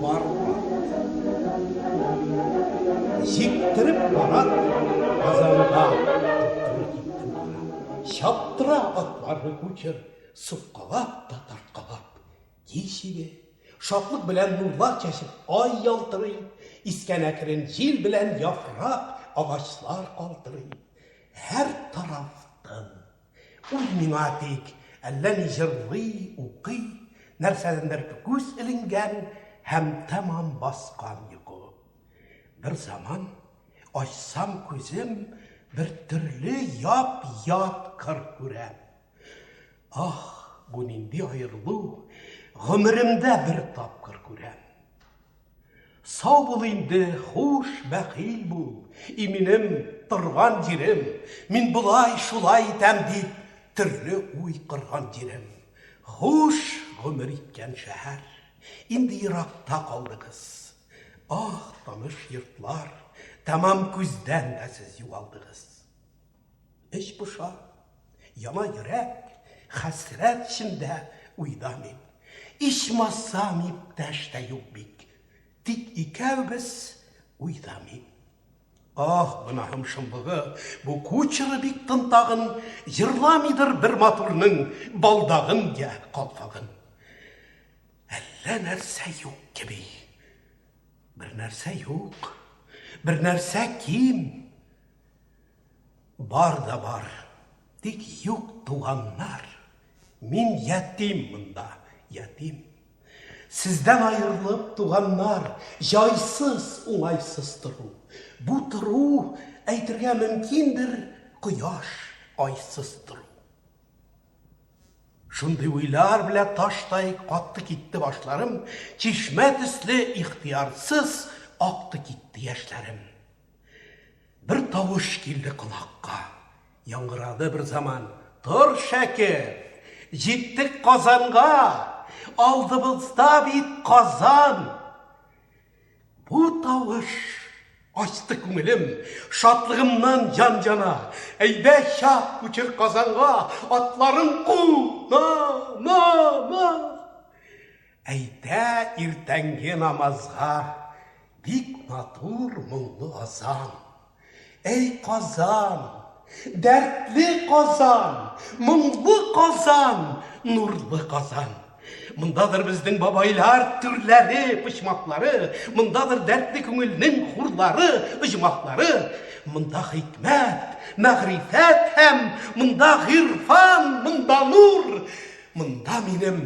Барма. Җиктереп бара Казанга. Чаптыра атларны күчер, суккалап та тарткалап. Ди чибе, шатлык белән нурлар чәчеп, ай ялтырый, искән әкрен җил белән яфрак, агачлар калтырый. Һәр тарафтан Үзмин атик, әллә ни җырлый, укый, нәрсәдәндер күз эленгән һәм тәмам баскан йокы. Бер заман ачсам күзем, бер төрле яп-ят кыр күрәм. Ах, бу нинди аерылу, гомеремдә бер тапкыр күрәм. Сау бул инде, хуш, бәхил бул, и минем торган җирем, мин болай, шулай итәм дип, төрле уй кырган җирем. Хуш гомер иткән шәһәр, инде еракта калды кыз. Ах, таныш йортлар, тәмам күздән дә сез югалдыгыз. Эч поша, яна йөрәк, хәсрәт эчендә уйда мин. Ичмасам, иптәш тә юк бит, тик икәүбез уйда мин. Ах, гөнаһым шомлыгы, бу кучеры бик тынтагын, җырламыйдыр бер матурның балдагын я калфагын. Әллә нәрсә юк кеби. Бер нәрсә юк, бер нәрсә ким. Бар да бар, тик юк туганнар. Мин ятим монда, ятим. Сездән аерылып, туганнар, җайсыз, уңайсыз тору. Бу тору, әйтергә мөмкиндер, кояш айсыз тору. Шундый уйлар белә таштай катты китте башларым, чишмә төсле ихтиярсыз акты китте яшьләрем. Бер тавыш килде колакка. Яңгырады бер заман. Тор, шәкерт! Җиттек Казанга! Алдыбызда бит Казан! Бу тавыш ачты күңелем, шатлыгымнан җан җана. Әйдә чак, күчер Казанга, атларын ку! На, на, на! Әйтә иртәнге намазга Бик матур моңлы азан. Әй Казан, дәртле Казан, моңлы Казан, нурлы Казан. Мындадыр безнең бабайлар түрләре, почмаклары, мындадыр дәртле күңелнең хурлары, оҗмахлары. Мында хикмәт, мәгърифәт һәм мында гыйрфан, мында нур, мында минем